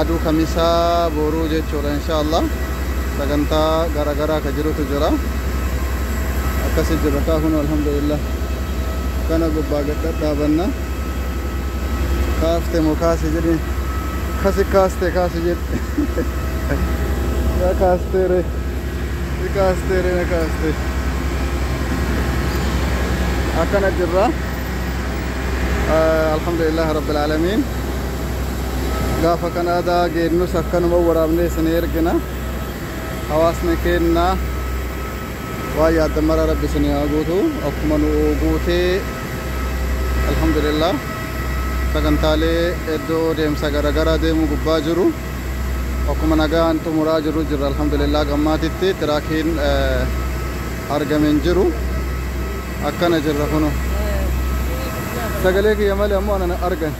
Aduu kamisaa boruu jechuudha insha Allah sagantaa gara garaa ka jirutu jira akkasi jirra kaa kun alhamdulillah kana gubbaa gad dhadhaabanna kaafte moo kaasi jedhi kasi kaaste kaasi jedhi ya kaastere ni kaastere na kaaste akkana jirra alhamdulillah rabbil aalamiin gaafa kan aadaa geennus akkanuma waraabnee isinii ergina hawaasni keenna waan yaaddan mara rabbi isinii haa guutu akkuma nu guutee alhamdulillah sagantaalee iddoo deemsa garaagaraa deemuu gubbaa jiru akkuma nagaan xumuraa jiru jirra alhamdulillah gammaatitti tiraakiin argame hin jiru. akkana jirra kuno sagalee kiyya malee ammoo ana argan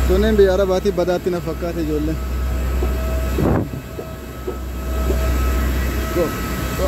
tunneen biyya arabaatii badaatti na fakkaate ijoolleen Go. Go.